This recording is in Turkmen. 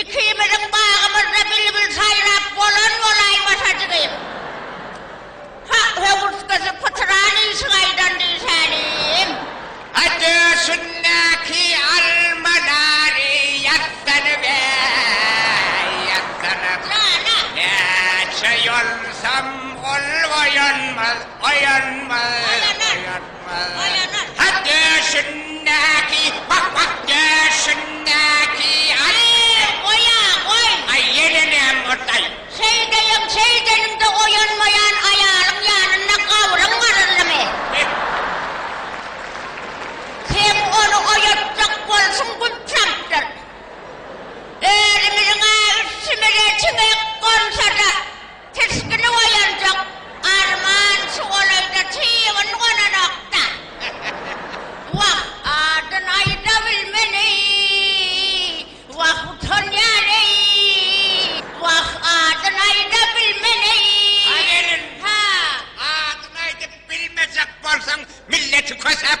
Ikimiziň bagymyzda bilbil saýrap bolan bolaýmasa jigim. Ha, höwürtgesi pytyran işik aýdan diýsänim. A döşündäki almalary ýazsana be, ýazsana. Jana! Näçe ýolsam ol oýanmaz, oýanmaz. Oýanar. Hak döşündäki, hak, hak döşündäki, aý! Eý, goý-a, goý! Aý, ýene näm boldy-aý? Şeýdeýin, şeýdeýin-de oýanmaýan aýalyň ýanynda gabryň garyldymy? Sen ony oýatjak bolşuň günçakdyr. Özümiziň-ä üstümize çiňek gonsa-da. Tirsgini oýanjak arman şu golaýda çybyn gonanok-da. Wah, adyn aýda bilmen-eý, wah, utanýan-eý, wah, adyn aýda bilmen-eý. Aweryn! Adyn aýdyp bilmejek bolsaň, milleti kösäp,